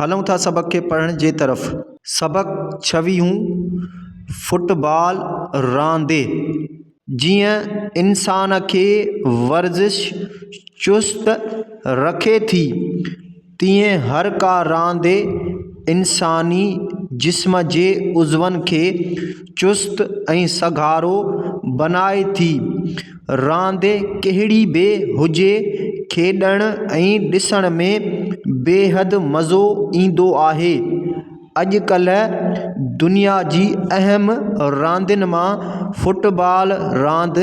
هلون ٿا سبق کي پڙهڻ جي طرف. سبق ڇويهون، فٽ بال راندي جيئن انسان کي ورزش چست رکي ٿي تيئن هر ڪا راندي انساني جسم جي عضون کي چست ۽ سگهارو بنائي ٿي راند ڪهڙي به هجي کيڏڻ ۽ ڏسڻ ۾ بيحد مزو ايندو آهي اڄڪلهه دنيا جي اهم راندين ماں فٽبال راند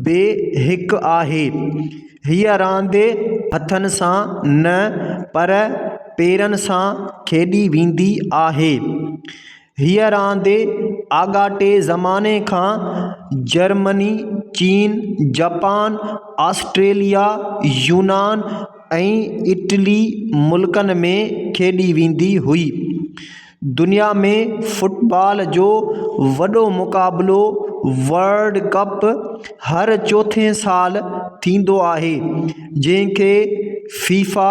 به هڪ آهي هيء راند هٿن سان نه پر پيرن سان کيڏي ويندي آهي هيء راند آڳاٽي زماني کان جرمني، چين، جپان، آسٽريليا، يونان ۽ اٽلي ملڪن ۾ کيڏي ويندي هئي. دنيا ۾ فٽبال جو وڏو مقابلو ورلڊ ڪپ هر چوٿين سال ٿيندو آهي، جنهن کي فيفا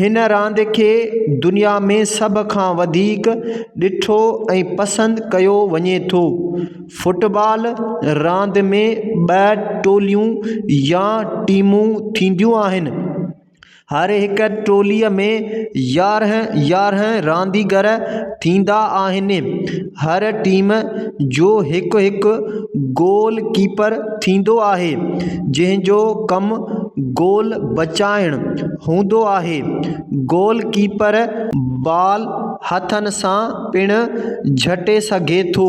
هن راند کي دنيا ۾ سڀ کان وڌيڪ ڏٺو ۽ پسند ڪيو وڃي ٿو. فٽبال راند ۾ ٻه ٽوليون يا ٽيمون ٿينديون آهن. هر هڪ ٽوليء ۾ يارهن يارهن رانديگر ٿيندا آهن هر ٽيم جو هڪ هڪ گول ڪيپر ٿيندو آهي جنهن جو ڪم گول بچائڻ هوندو آهي گول ڪيپر بال هٿن سان پڻ جهٽي سگهي ٿو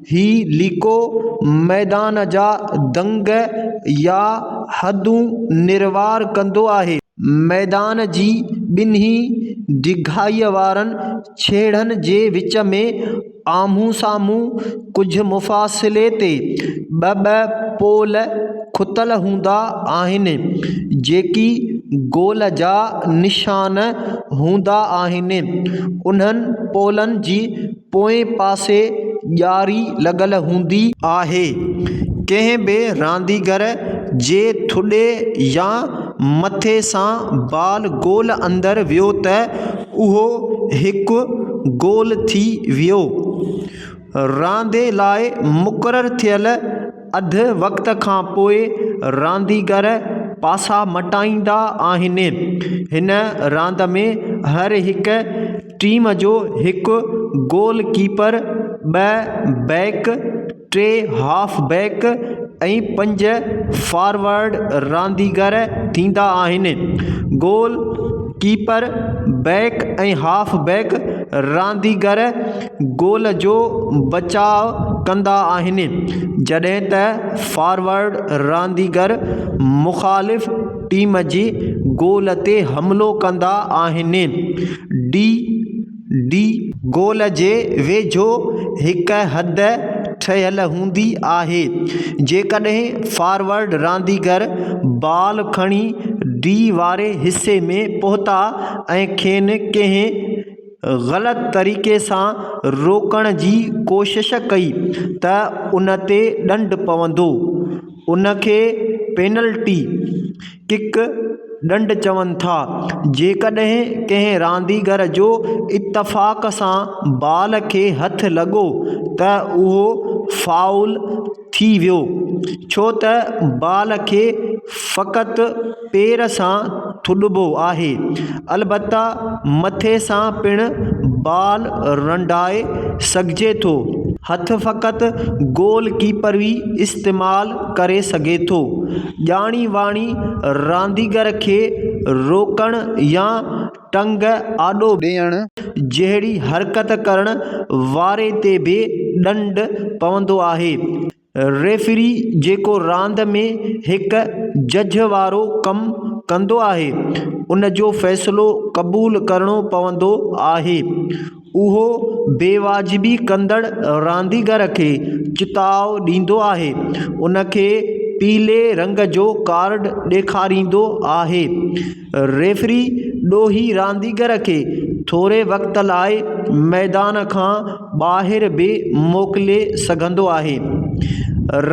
هي ليڪو ميدان جا دنگ يا حدون نروار ڪندو آهي. ميدان جي ٻنهي ڊگهائيء وارن ڇيڙن جي وچ ۾ آمهون سامهون ڪجهه مفاصلي تي ٻه ٻه پول کتل هوندا آهن، جيڪي گول جا نشان هوندا آهن. انهن پولن جي پوئين پاسي ڄاري لڳل هوندي آهي. ڪنهن به رانديگر جي ٿڏي يا مٿي سان بال گول اندر ويو ته اهو هڪ گول ٿي ويو. راندي لاء مقرر ٿيل اڌ وقت کان پوء رانديگر پاسا مٽائيندا آهن. هن راند ۾ هر هڪ ٽيم جو هڪ گول ڪيپر، ٻه بيڪ، ٽي هاف بيڪ ۽ پنج فارورڊ رانديگر ٿيندا آهن. گول ڪيپر، بيڪ ۽ هاف بيڪ رانديگر گول جو بچاء ڪندا آهن جڏهن ته فارورڊ رانديگر مخالف ٽيم جي گول تي حملو ڪندا آهن. ڊي ڊي گول جي ويجهو هڪ حد ٺهيل هوندي آهي. جيڪڏهن فارورڊ رانديگر بال کڻي ڊي واري حصي ۾ پهتا ۽ کين ڪنهن غلط طريقي سان روڪڻ جي ڪوشش ڪئي ته ان تي ڏنڊ پوندو ان کي پينلٽي ڪڪ ڏنڊ چون ٿا جيڪڏهن ڪنهن رانديگر جو اتفاق سان بال کي هٿ لڳو ته اهو فائول ٿي ويو ڇو ته بال کي فقط پير سان ٿڏبو آهي البته مٿي سان پڻ بال رنڊائي سگهجي ٿو هٿ فقط گول ڪيپر ئي استعمال ڪري سگهي ٿو ڄاڻي واڻي رانديگر کي روڪڻ يا ٽنگ آڏو ڏيڻ جهڙي حرڪت ڪرڻ واري تي به ڏنڊ پوندو آهي. ريفري جيڪو راند ۾ هڪ جج وارو ڪم ڪندو آهي ان جو فيصلو قبول ڪرڻو پوندو آهي. اهو بيواجبي ڪندڙ رانديگر کي چتاء ڏيندو آهي، ان کي پيلي رنگ جو ڪارڊ ڏيکاريندو آهي. ريفري ڏوهي رانديگر کي ٿوري وقت لاء ميدان کان ٻاهر به موڪلي سگهندو آهي.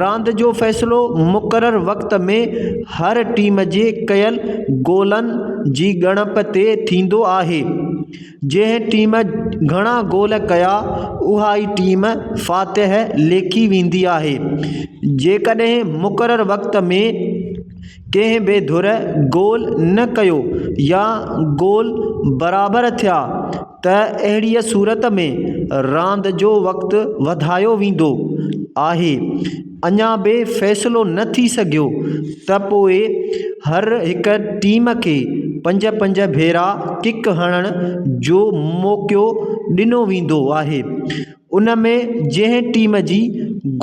راند جو فيصلو مقرر وقت ۾ هر ٽيم جي ڪيل گولن جي ڳڻپ تي ٿيندو آهي. جنهن ٽيم گهڻا گول ڪيا اها ئي ٽيم فاتح ليکي ويندي آهي جيڪڏهن مقرر وقت ۾ ڪنهن به ڌر گول نه ڪيو يا گول برابر ٿيا ته اهڙيء صورت ۾ راند جو وقت وڌايو ويندو آهي اڃا به فيصلو نه ٿي سگهيو ته پوء هر هڪ ٽيم کي پنج پنج ڀيرا ڪڪ هڻڻ جو موقعو ڏنو ويندو آهي ان ۾ جنهن ٽيم جي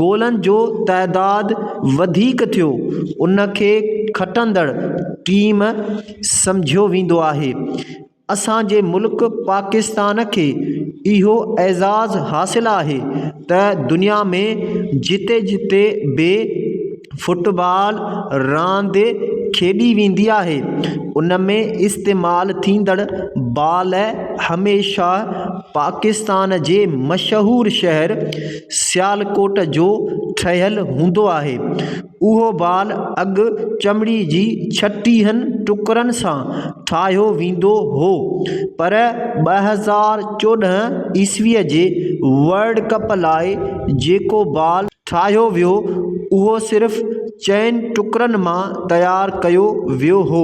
گولن جو تعداد وڌيڪ ٿيو ان کي کٽندڙ ٽيم سمجهيو ويندو آهي اسان جي ملڪ پاڪستان کي اهو اعزاز حاصل آهي ته دنيا ۾ جتي جتي به فٽبال راند کيڏي ويندي آهي ان ۾ استعمال ٿيندڙ بال هميشه پاڪستان جي مشهور شهر سيالڪوٽ جو ٺهيل هوندو آهي اهو بال اڳ چمڙي جي ڇٽيهن ٽڪرن سان ٺاهيو ويندو هو پر ٻه هزار چوڏهن عيسويء جي ورلڊ ڪپ لاء جيڪو بال ٺاهيو ويو اهو صرف چئن ٽڪرن مان تيار ڪيو ويو هو